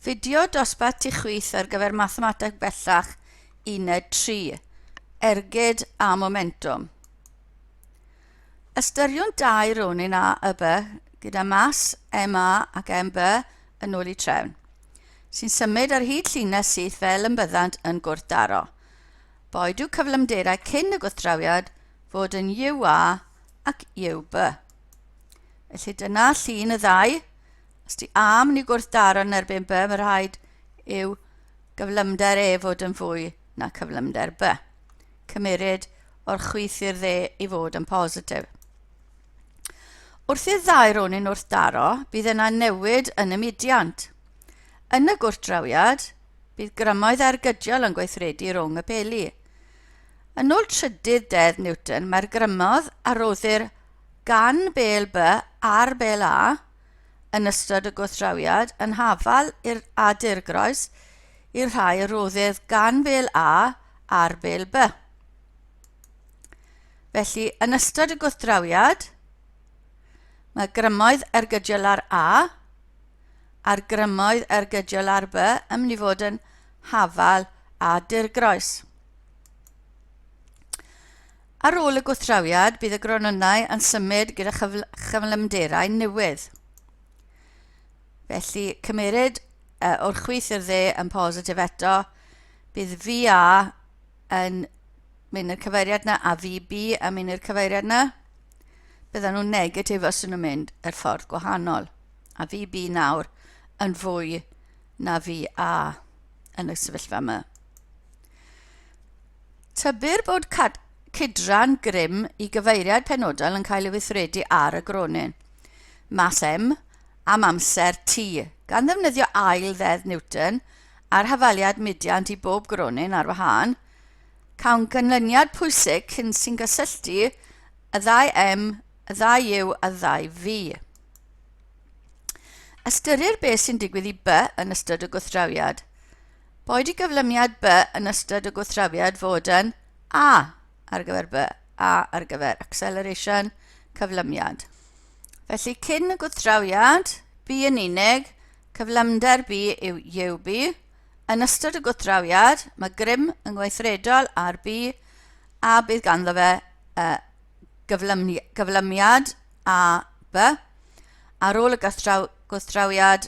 Fideo dosbarth tu chwith ar gyfer Mathemateg Bellach Uned 3, Ergyd a Momentwm. Ystyriwn dau ronin A y B gyda mas MA ac MB yn ôl i trefn, sy'n symud ar hyd llinell syth fel yn byddant yn gwrthdaro. Boed yw cyflymderau cyn y gwrthdrawiad fod yn UA ac UB. Felly dyna llun y ddau Os ti am ni gwrthdaro yn erbyn by, mae rhaid yw gyflymder e fod yn fwy na cyflymder by. Cymeryd o'r chwith i'r dde i fod yn positif. Wrth i'r ddau rôn yn wrthdaro, bydd yna newid yn y mudiant. Yn y gwrthdrawiad, bydd grymoedd ergydiol yn gweithredu rhwng y peli. Yn ôl trydydd dedd Newton, mae'r grymodd a roddir gan bel B ar bel A yn ystod y gwrthdrawiad yn hafal i'r a dirgroes i'r rhai a roddir gan fel A ar fel B. Felly, yn ystod y gwrthdrawiad, mae grymoedd ergydiol ar A a'r grymoedd ergydiol ar B yn mynd i fod yn hafal a dirgroes. Ar ôl y gwrthdrawiad, bydd y gronynnau yn symud gyda chyflymderau newydd. Felly, cymeryd uh, o'r chwith i'r dde yn positif eto, bydd VA yn mynd i'r cyfeiriad yna a VB yn mynd i'r cyfeiriad yna. Bydden nhw'n negatif os nhw'n mynd yr ffordd gwahanol. A VB nawr yn fwy na VA yn y sefyllfa yma. Tybir bod cydran grym i gyfeiriad penodol yn cael ei weithredu ar y gronyn, mass m, am amser t, gan ddefnyddio ail ddeddf Newton a'r hafaliad mudiant i bob gronyn ar wahân, cawn ganlyniad pwysig cyn sy'n gysylltu y ddau m, y ddau u a'r ddau v. Ystyrir beth sy'n digwydd i b yn ystod y gwrthdrawiad. Boed i gyflymiad by yn ystod y gwrthdrawiad fod yn A ar gyfer by, A ar gyfer acceleration, cyflymiad. Felly cyn y gwrthdrawiad, bu yn unig, cyflymder bu yw UB. Yn ystod y gwrthdrawiad, mae grym yn gweithredol ar bu a bydd ganddo fe uh, gyflymiad A by. Ar ôl y gwrthdrawiad,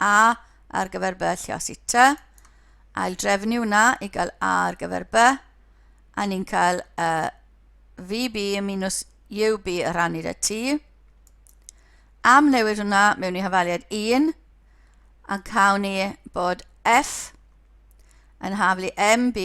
A ar gyfer B lle os i T. Ail drefnu hwnna i gael A ar gyfer B. A ni'n cael uh, VB minus UB y rhannu da T. Am newid hwnna mewn i hafaliad 1 a cawn ni bod F yn haflu MB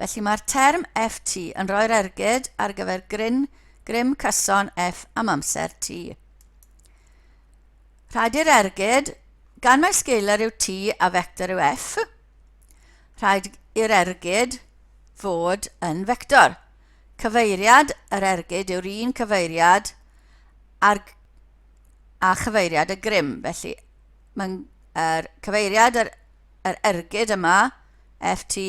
Felly mae'r term FT yn rhoi'r ergyd ar gyfer gryn, grym cyson F am amser T. Rhaid i'r ergyd, gan mai sgeiler yw T a vector yw F, rhaid i'r ergyd fod yn vector. Cyfeiriad yr ergyd yw'r un cyfeiriad ar, a chyfeiriad y grym. Felly, mae'n er, cyfeiriad yr yr ergyd yma, FT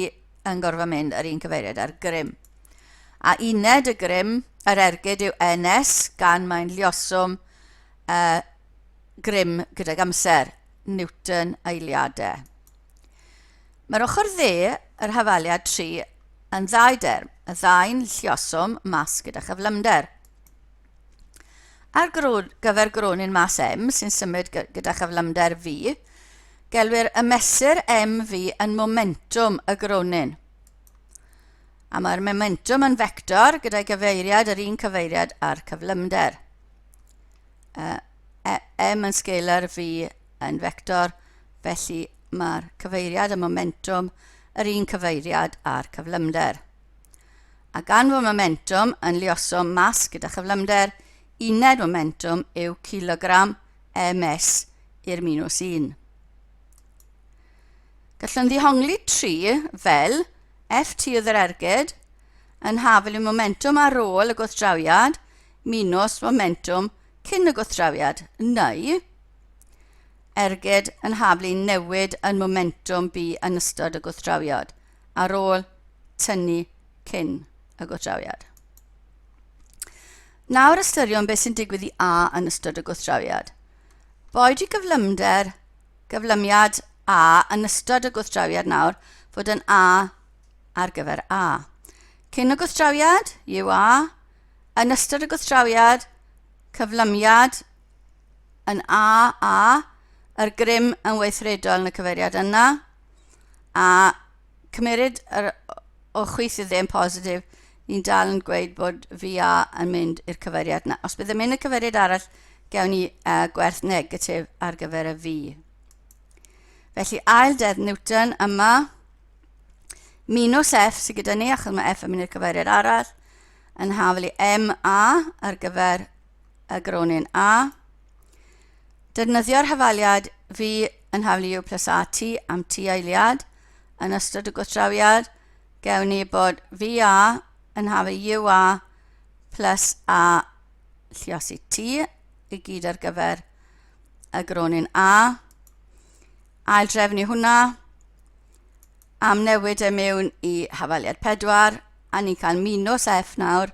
yn gorfod mynd yr un cyfeiriad ar grym. A uned y grym, yr ergyd yw NS, gan mae'n llioswm uh, grym gydag amser, Newton eiliadau. Mae'r ochr dde, yr hafaliad 3, yn ddau derm, y ddau'n llioswm mas gyda chyflymder. Ar gyfer gronyn mas M sy'n symud gyda chyflymder V, gelwir y mesur MV yn momentwm y gronyn. A mae'r momentwm yn fector gyda'i gyfeiriad yr un cyfeiriad a'r cyflymder. Uh, e, M yn scalar, V yn fector, felly mae'r cyfeiriad y momentwm yr un cyfeiriad a'r cyflymder. Ac anfon momentum yn liosom mas gyda chyflymder, uned momentum yw kilogram ms i'r minus 1. Gallwn ddihongli 3 fel ft oedd yr ergyd yn hafel y momentum ar ôl y gwrthdrawiad minus momentum cyn y gwrthdrawiad, neu ergyd yn haflu newid yn momentum bu yn ystod y gwrthdrawiad. ar ôl tynnu cyn y gwrthdrawiad. Nawr ystyriwn beth sy'n digwydd i A yn ystod y gwrthdrawiad. Boed i gyflymder, gyflymiad A yn ystod y gwrthdrawiad nawr fod yn A ar gyfer A. Cyn y gwrthdrawiad, yw A, yn ystod y gwrthdrawiad, cyflymiad yn A, A, yr grym yn weithredol yn y cyfeiriad yna, a cymeryd yr o chwith i'r ddim positif, ni'n dal yn gweud bod VA yn mynd i'r cyfeiriad yna. Os byddai'n mynd y cyfeiriad arall, gewn ni uh, gwerth negatif ar gyfer y V. Felly ail dedd Newton yma, minus F sydd gyda ni, achos mae F yn mynd i'r cyfeiriad arall, yn hafel i MA ar gyfer y gronyn A. Defnyddio'r hafaliad V yn haflu U plus AT am T eiliad. Yn ystod y gwrthdrawiad, gewn ni bod VA yn haflu UA plus A lliosi T i gyd ar gyfer y gronyn A. Ail drefnu hwnna, am newid e mewn i hafaliad 4, a ni'n cael minus F nawr,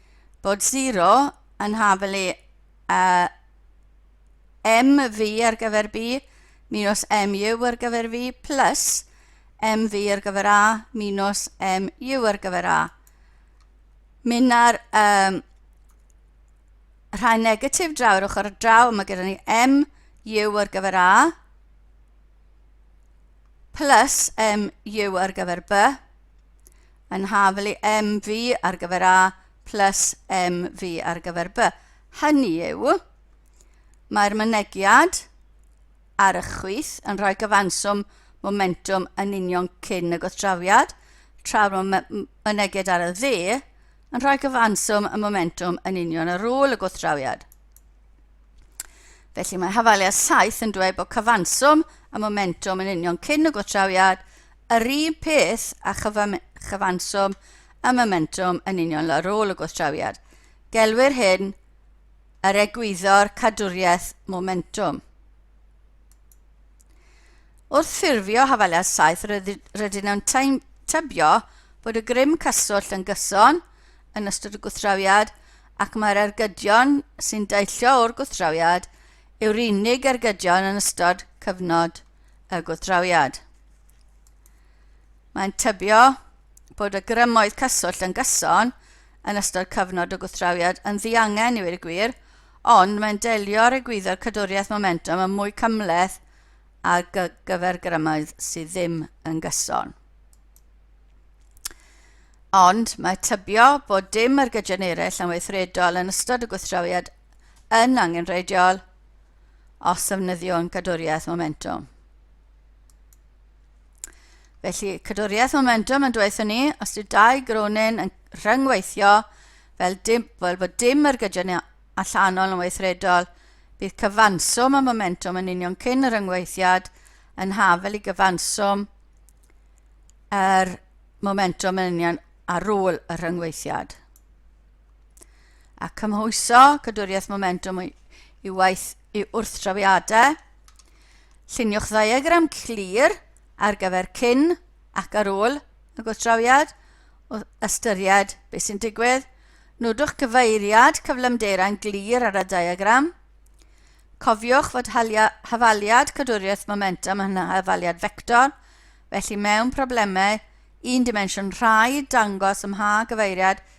Bod zero yn haf yli a MV ar gyfer B minus MU ar gyfer V plus MV ar gyfer A minus MU ar gyfer A. Mynna'r um, rhai negatif draw ar ochr draw, mae gyda ni MU ar gyfer A plus MU ar gyfer B yn hafelu MV ar gyfer A plus MV ar gyfer B. Hynny yw, mae'r mynegiad ar y chwith yn rhoi gyfanswm momentum yn union cyn y gwrthdrawiad, tra'r mynegiad ar y dde yn rhoi gyfanswm y momentum yn union ar ôl y gwrthdrawiad. Felly mae hafaliad 7 yn dweud bod cyfanswm y momentum yn union cyn y gwrthdrawiad Yr un peth a chyfanswm a momentwm yn union ar ôl y gwrthdrawiad. Gelwir hyn yr egwyddor cadwriaeth momentwm. Wrth ffurfio hafaliad saith rydyn nhw'n tybio bod y grym cyswllt yn gyson yn ystod y gwrthdrawiad ac mae'r ergydion sy'n deillio o'r gwrthdrawiad yw'r unig ergydion yn ystod cyfnod y gwrthdrawiad. Mae'n tybio bod y grymoedd cyswllt yn gyson yn ystod cyfnod o gwrthdrawiad yn ddiangen i wir y gwir, ond mae'n delio ar egwyddor cadwriaeth momentum yn mwy cymleth ar gyfer grymoedd sydd ddim yn gyson. Ond mae tybio bod dim ar gydion eraill yn weithredol yn ystod y gwrthdrawiad yn angenrheidiol os ddefnyddiwn cadwriaeth momentwm. Felly, cadwriaeth momentwm yn dweithio ni, os ydy dau gronin yn rhyngweithio fel, dim, fel bod dim yr gydion allanol yn weithredol, bydd cyfanswm y momentwm yn union cyn yr rhyngweithiad yn hafel i gyfanswm yr momentwm yn union ar ôl y rhyngweithiad. a cymhwyso cadwriaeth momentwm i waith i wrthdrawiadau. Lluniwch ddiagram clir ar gyfer cyn ac ar ôl y gwrthdrawiad o ystyried beth sy'n digwydd. Nodwch cyfeiriad cyflymderau'n glir ar y diagram. Cofiwch fod hafaliad cadwriaeth momentum yn hafaliad fector, felly mewn problemau un dimensiwn rhaid dangos ymha gyfeiriad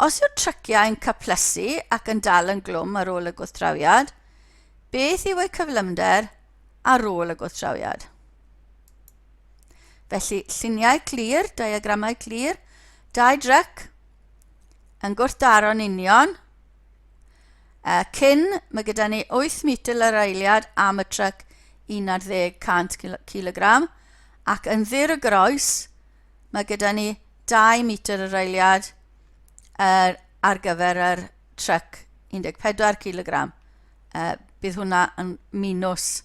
Os yw'r tryciau yn caplesu ac yn dal yn glwm ar ôl y gwrthdrawiad, beth yw eu cyflymder ar ôl y gwrthdrawiad? Felly, lluniau clir, diagramau clir, dau dryc yn gwrthdaro'n union. A cyn, mae gyda ni 8 metr yr eiliad am y tryc 1100 kg ac yn ddir y groes, Mae gyda ni 2 metr yr eiliad er, ar gyfer yr truck 14 kilogram. Uh, bydd hwnna yn minus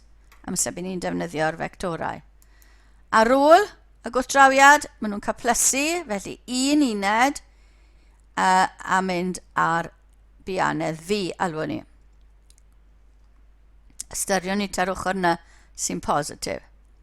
amser bydd ni'n defnyddio'r fectorau. Ar ôl y gwrthdrawiad, maen nhw'n cael plysu, felly un uned uh, a mynd ar bianedd fi, alwyn ni. Ystyriwn ni ta'r ochr yna sy'n positif.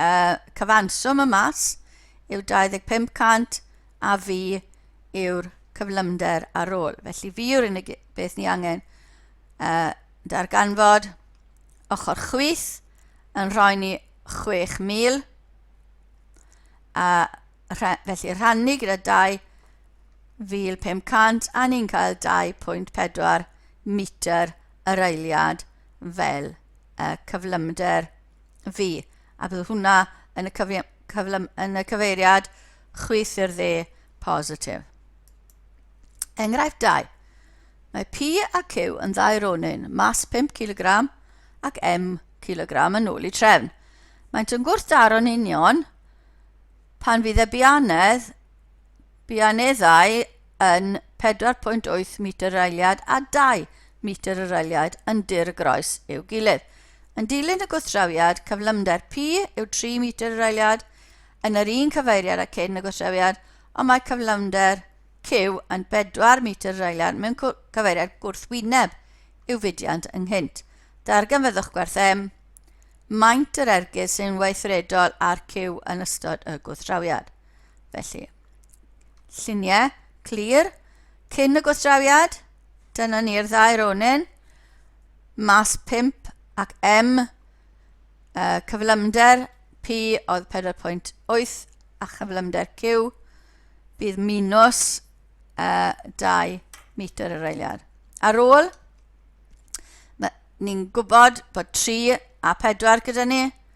uh, cyfanswm y mas yw 2500 a fi yw'r cyflymder ar ôl. Felly fi yw'r unig beth ni angen uh, darganfod ochr chwith yn rhoi ni 6,000 a rha felly rhannu gyda 2,500 a ni'n cael 2.4 metr yr eiliad fel y cyflymder fi, a bydd hwnna yn y, cyfi, cyflym, yn y cyfeiriad chwyth i'r dde positif. Enghraifft 2. Mae P a Q yn ddau ronyn, mas 5 kg ac M kg yn ôl i trefn. Maent yn gwrthdaro'n union pan fydd y bianedd, bianeddau yn 4.8 metr yr eiliad a 2 metr yr eiliad yn dir y groes i'w gilydd. Yn dilyn y gwrthdrawiad, cyflymder P yw 3 metr yr eiliad yn yr un cyfeiriad â cyn y gwrthdrawiad, ond mae cyflymder Q yn 4 metr yr eiliad mewn cyfeiriad gwrthwyneb i'w fudiant ynghynt. Darganfyddwch gwerth M, maint yr ergyd sy'n weithredol ar Q yn ystod y gwrthdrawiad. Felly, Lluniau, clir, cyn y gwastrawiad. Dyna ni'r ddau ronin. Mas 5 ac M, uh, cyflymder P oedd 4.8 a chyflymder Q bydd minus uh, 2 metr yr eiliad. Ar ôl, ni'n gwybod bod 3 a 4 gyda ni,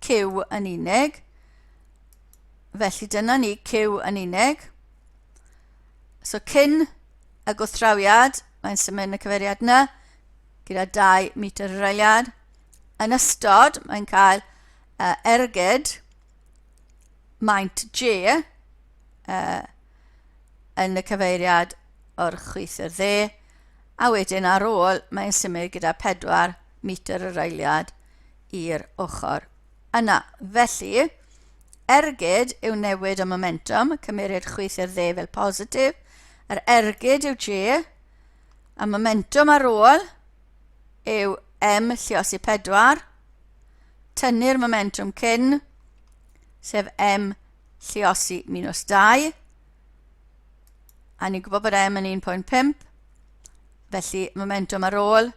Q yn unig. Felly dyna ni Q yn unig. So cyn y gwrthdrawiad, mae'n symud y cyfeiriad yna gyda 2 metr yr eiliad. Yn ystod, mae'n cael uh, ergyd maint G uh, yn y cyfeiriad o'r chwith i'r dde, a wedyn ar ôl mae'n symud gyda 4 metr yr eiliad i'r ochr yna. Felly, ergyd yw newid y momentwm, cymeryd chwith i'r dde fel positif, yr ergyd yw J, y momentwm ar ôl yw M lliosi 4, tynnu'r momentwm cyn, sef M lliosi minus 2, a ni'n gwybod bod M yn 1.5, Felly, momentum ar ôl,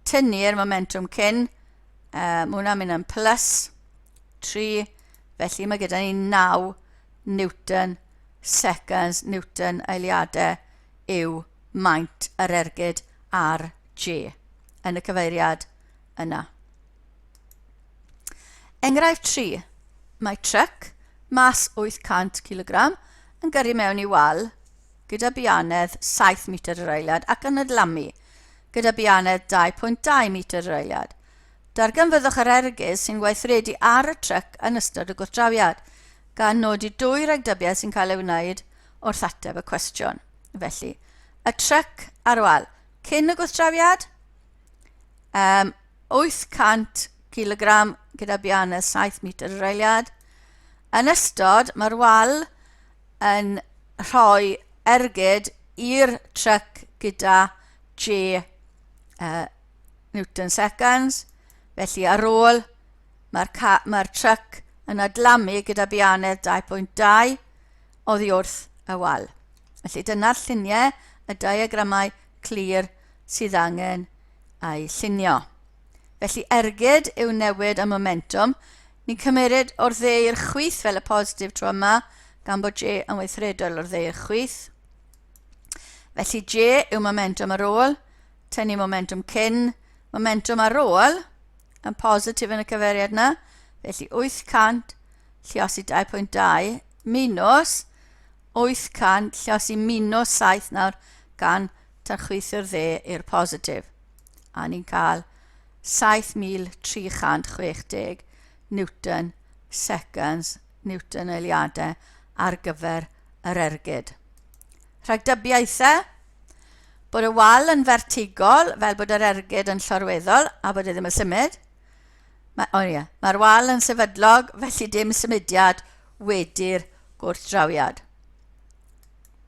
tynnu'r momentum cyn, uh, mae hwnna'n mynd yn plus 3, felly mae gyda ni 9 Newton seconds, Newton eiliadau yw maint yr ergyd ar G yn y cyfeiriad yna. Enghraifft 3. Mae truck mas 800 kg yn gyrru mewn i wal gyda bianedd 7 metr yr eiliad ac yn y dlamu, gyda bianedd 2.2 metr yr eiliad. Darganfyddwch yr ergyd sy'n weithredu ar y tryc yn ystod y gwrthdrawiad, gan nodi dwy ragdybiaeth sy'n cael ei wneud wrth ateb y cwestiwn. Felly, y tryc ar wal cyn y gwrthdrawiad, um, 800 kg gyda bianedd 7 metr yr eiliad. Yn ystod, mae'r wal yn rhoi ergyd i'r tryc gyda J uh, Newton seconds. Felly ar ôl mae'r mae tryc yn adlamu gyda bianedd 2.2 oddi wrth y wal. Felly dyna'r lluniau, y diagramau clir sydd angen a'i llunio. Felly ergyd yw newid y momentwm, ni'n cymeryd o'r dde i'r chwith fel y positif tro yma, gan bod J yn weithredol o'r dde i'r chwith. Felly J yw momentwm ar ôl, tynnu momentwm cyn, momentwm ar ôl, yn positif yn y cyferiad yna, felly 800 lliosi 2.2 minus 800 lliosi minus 7 nawr gan tachwithio'r dde i'r positif, a ni'n cael 7,360 Newton seconds, Newton eiliadau, ar gyfer yr ergyd. Rhagdybiaethau bod y wal yn fertigol, fel bod yr ergyd yn llorweddol a bod e ddim yn symud. Mae, oh yeah, mae'r wal yn sefydlog, felly dim symudiad wedi'r gwrthdrawiad.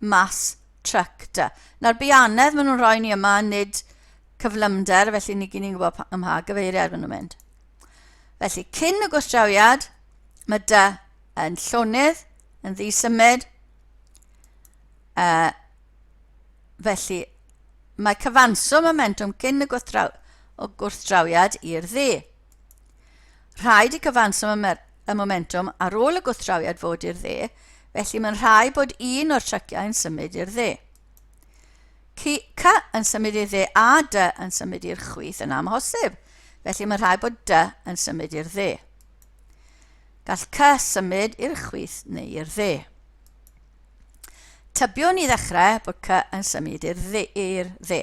mas tryc da. Nawr bianedd maen nhw'n rhoi ni yma, nid cyflymder, felly ni gyn ni'n gwybod pa- ym mha gyfeiriad maen nhw'n mynd. Felly, cyn y gwrthdrawiad, mae dy yn llonydd, yn ddisymud. Uh, felly, mae cyfanswm y mentwm cyn y gwrthdraw- o gwrthdrawiad i'r ddu. Rhaid i cyfanswm y momentwm ar ôl y gwrthdrawiad fod i'r dde, felly mae'n rhaid bod un o'r tryciau yn symud i'r dde. Cy yn symud i'r dde a dy yn symud i'r chwith yn amhosib, felly mae'n rhaid bod dy yn symud i'r dde. Gall cy symud i'r chwith neu i'r dde. Tybiwn i ddechrau bod cy yn symud i'r dde.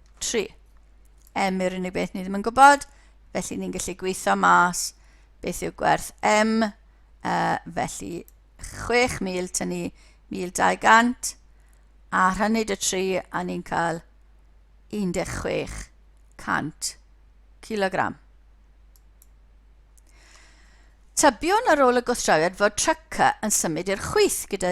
3. M yw'r unig beth ni ddim yn gwybod, felly ni'n gallu gweithio mas beth yw gwerth M, uh, felly 6,000 tynnu 1,200, a rhannu dy 3 a ni'n cael 1600 kilogram. Tybiwn ar ôl y gwrthdrawiad fod Trucker yn symud i'r chwith gyda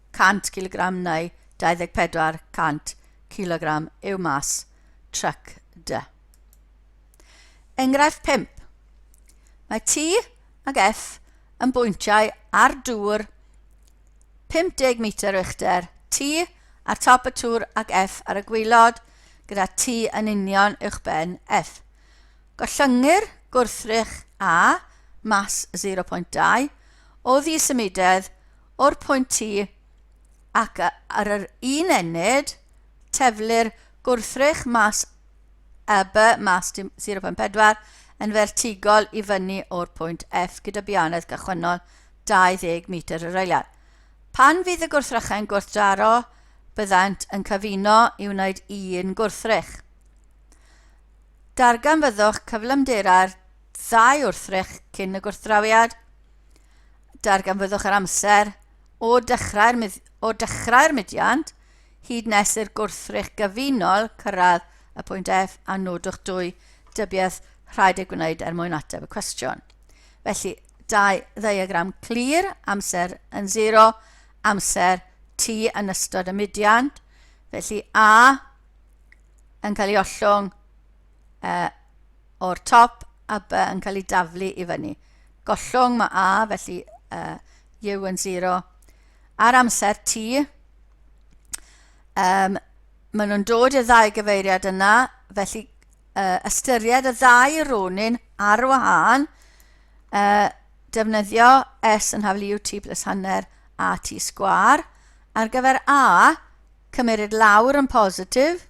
100 cilogram neu 24 cant cilogram yw mas tryc dy. Enghraifft 5. Mae T ag F yn bwyntiau ar dŵr 50 metr uchder, T ar top y tŵr ac F ar y gwylod, gyda T yn union uwch ben F. Gollyngu'r gwrthrych A, mas 0.2, o ddisymudedd o'r pwynt T ac ar yr un ennyd, teflu'r gwrthrych mas a by mas 0.4 yn fertigol i fyny o'r pwynt F gyda bianedd gychwynnol 20 metr yr eiliad. Pan fydd y gwrthrychau'n gwrthdaro, byddant yn cyfuno i wneud un gwrthrych. Darganfyddwch cyflymderau'r ddau wrthrych cyn y gwrthdrawiad. Darganfyddwch yr amser o dechrau'r o dechrau'r mudiant hyd nes i'r gwrthrych gyfunol cyrraedd y pwynt F a nodwch dwy dybiaeth rhaid eu gwneud er mwyn ateb y cwestiwn. Felly, dau ddeiagram clir, amser yn 0, amser T yn ystod y mudiant. Felly A yn cael ei ollwng uh, o'r top a B yn cael ei daflu i fyny. Gollwng mae A, felly uh, U yn 0. Ar amser T, um, maen nhw'n dod i'r ddau gyfeiriad yna, felly uh, ystyried y ddau ronin ar wahân, uh, defnyddio S yn haflu UT plus hanner AT sgwar. Ar gyfer A, cymeryd lawr yn positif,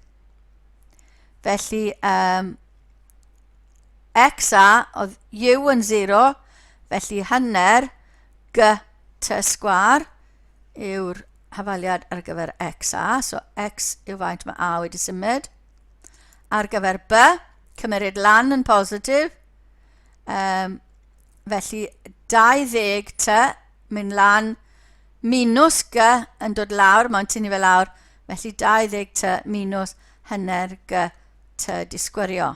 felly um, x a oedd u yn 0, felly hanner g t sgwar yw'r hafaliad ar gyfer x a, so x yw faint mae a wedi symud. Ar gyfer b, cymeryd lan yn positif, um, felly 20 t mynd lan minus g yn dod lawr, mae'n tynnu fe lawr, felly 20 t minus hanner g t disgwyrio.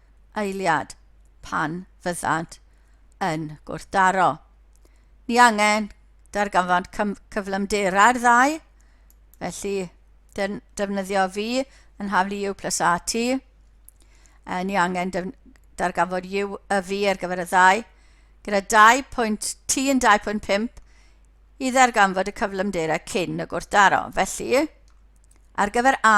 eiliad pan fyddant yn gwrthdaro. Ni angen darganfod cyflymderau'r ddau, felly defnyddio fi yn haflu u plus at. E, ni angen darganfod u y fi ar gyfer y ddau. Gyda 2 pwynt t yn 2.5 i ddarganfod y cyflymderau cyn y gwrthdaro. Felly, ar gyfer a,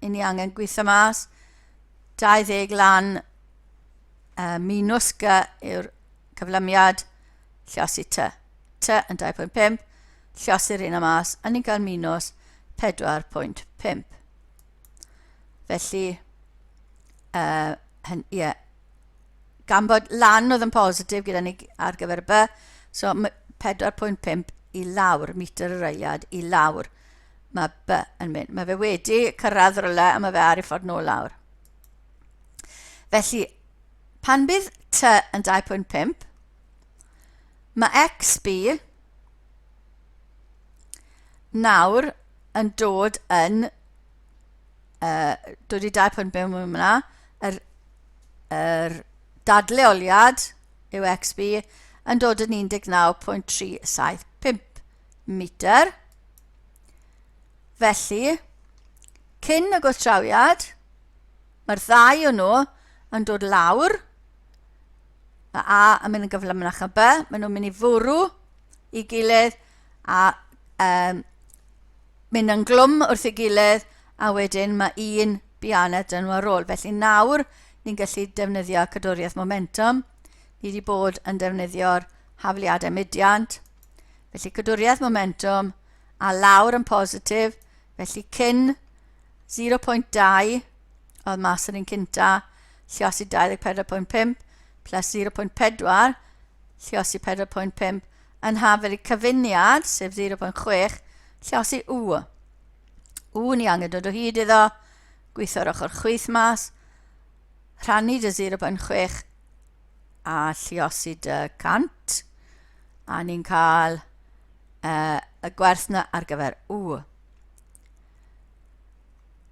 i ni angen gweithio mas. 20 lan uh, minus G yw'r cyflymiad llosi T. T yn 2.5, llosi'r un am as, a ni'n cael minus 4.5. Felly, uh, hen, yeah, gan bod lan oedd yn positif gyda ni ar gyfer y by, so 4.5 i lawr, metr yr eiliad i lawr. Mae by yn mynd. Mae fe wedi cyrraedd rhywle a mae fe ar ei ffordd nôl lawr. Felly, pan bydd t yn 2.5, mae x by nawr yn dod yn uh, dod i 2.5 mewn yna, yr, yr dadleoliad yw XB yn dod yn 19.375. metr. Felly, cyn y gwrthdrawiad, mae'r ddau o nhw yn dod lawr. Mae A yn mynd yn gyflymnach a B, maen nhw'n mynd i fwrw i gilydd a um, mynd yn glwm wrth ei gilydd a wedyn mae un bianed dyn nhw ar ôl. Felly nawr ni'n gallu defnyddio cadwriaeth momentum. Ni wedi bod yn defnyddio'r hafliadau mudiant. Felly cadwriaeth momentum a lawr yn positif, felly cyn 0.2 oedd mas yr un cynta, lliosi 24.5 plus 0.4, lliosi 4.5, yn hafel i cyfuniad, sef 0.6, lliosi u. U ni angen dod o hyd iddo, gweithio'r ochr chwyth mas, rhannu dy 0.6 a lluosi dy cant a ni'n cael uh, y gwerth na ar gyfer u.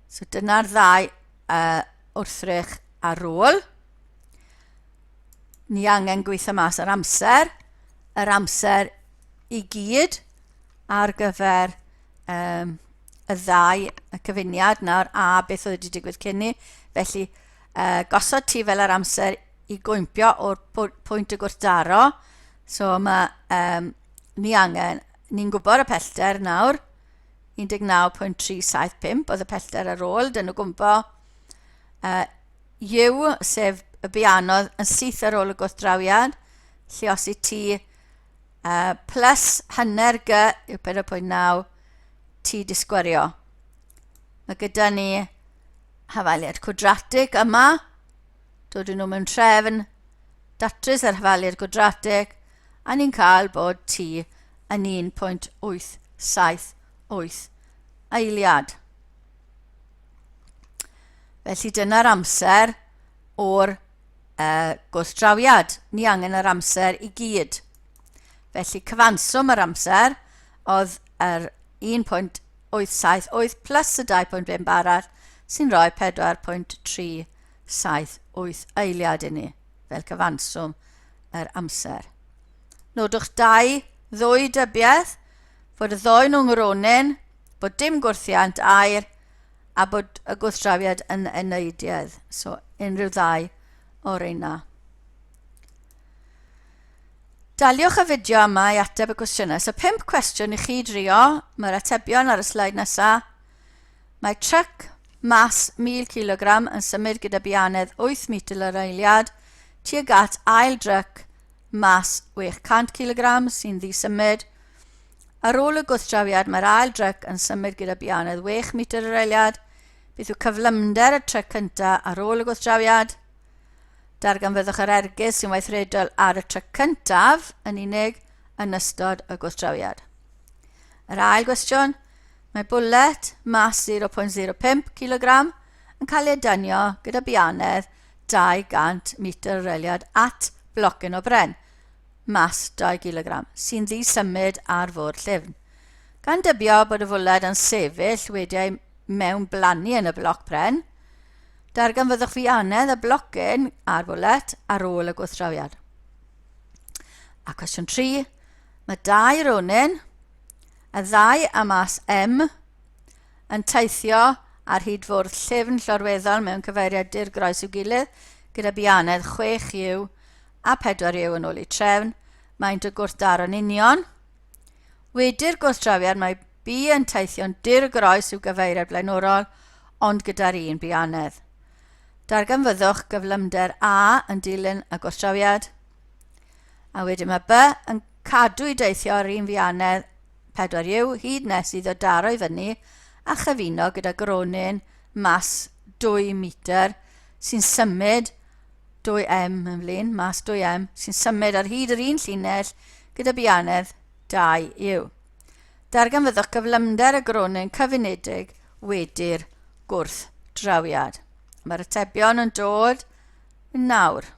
So dyna'r ddau uh, wrthrych ar ôl. Ni angen gweithio mas yr amser, yr amser i gyd ar gyfer um, y ddau y cyfuniad nawr a beth oedd wedi digwydd cyn ni. Felly uh, gosod ti fel yr amser i gwympio o'r pwynt y gwrthdaro. So mae um, ni angen, ni'n gwybod y pellter nawr, 19.375 oedd y pellter ar ôl, dyn nhw gwmpo. Uh, yw, sef y bianodd yn syth ar ôl y gwrthdrawiad, lle os i ti uh, plus hanner g yw 4.9 ti disgwario. Mae gyda ni hafaliad cwadratig yma, dod nhw mewn trefn, datrys yr hafaliad gwadratig, a ni'n cael bod T yn 1.878 eiliad. Felly dyna'r amser o'r uh, gwrthdrawiad. Ni angen yr amser i gyd. Felly cyfanswm yr amser oedd yr 1.878 878 plus y 2.5 arall sy'n rhoi 4.378 eiliad i ni fel cyfanswm yr amser. Nodwch dau ddwy dybiaeth fod y ddoi nhw'n ngronyn, bod dim gwrthiant air a bod y gwrthdrawiad yn eneidiedd, so unrhyw ddau o'r reina. Daliwch y fideo yma i ateb y cwestiynau. So pump cwestiwn i chi drio, mae'r atebion ar y sleid nesaf. Mae truck mas 1000 kg yn symud gyda bianedd 8 mitr yr eiliad tuag at ail dryc mas 600 kg sy'n ddisymud. Ar ôl y gwrthdrawiad mae'r ail dryc yn symud gyda bianedd 6 mitr yr eiliad. Beth yw cyflymder y tryc cyntaf ar ôl y gwrthdrawiad? Darganfyddwch yr ergyd sy'n weithredol ar y tryc cyntaf yn unig yn ystod y gwrthdrawiad. Yr ail gwestiwn, mae bwlet mas 0.05 kg yn cael ei dynio gyda bianedd 200 metr reliad at blocyn o bren, mas 2 kg, sy'n ddi-symud ar fwrdd llyfn. Gan dybio bod y fwled yn sefyll wedi ei mewn blannu yn y bloc pren, Darganfyddwch ffianedd y blocyn ar fwlet ar ôl y gwrthdrawiad. A cwestiwn 3, mae dau ronin, y ddau a mas M, yn teithio ar hyd fwrdd llyfn llorweddol mewn cyfeiriad dur groes i'w gilydd, gyda bianedd 6 yw a 4 yw yn ôl i trefn, maent y gwrthdaro'n union. Wedi'r gwrthdrawiad mae B yn teithio'n dur groes i'w gyfeiriad blaenorol, ond gyda'r un bianedd. Darganfyddwch gyflymder A yn dilyn y gwrthdrawiad, a wedyn mae B yn cadw i deithio yr un fianedd 4U hyd nes iddo daro i fyny a chyfuno gyda gronyn mas 2 metr sy'n symud 2M yn flin, mas 2M sy'n symud ar hyd yr un llinell gyda bianedd 2U. Darganfyddwch gyflymder y gronyn cyfunedig wedi'r gwrthdrawiad. Mae'r atebion yn dod yn nawr.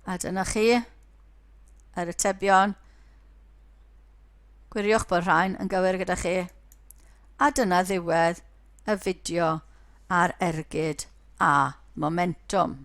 A dyna chi yr atebion. Gwiriwch bod rhain yn gywir gyda chi. A dyna ddiwedd y fideo ar ergyd a momentum.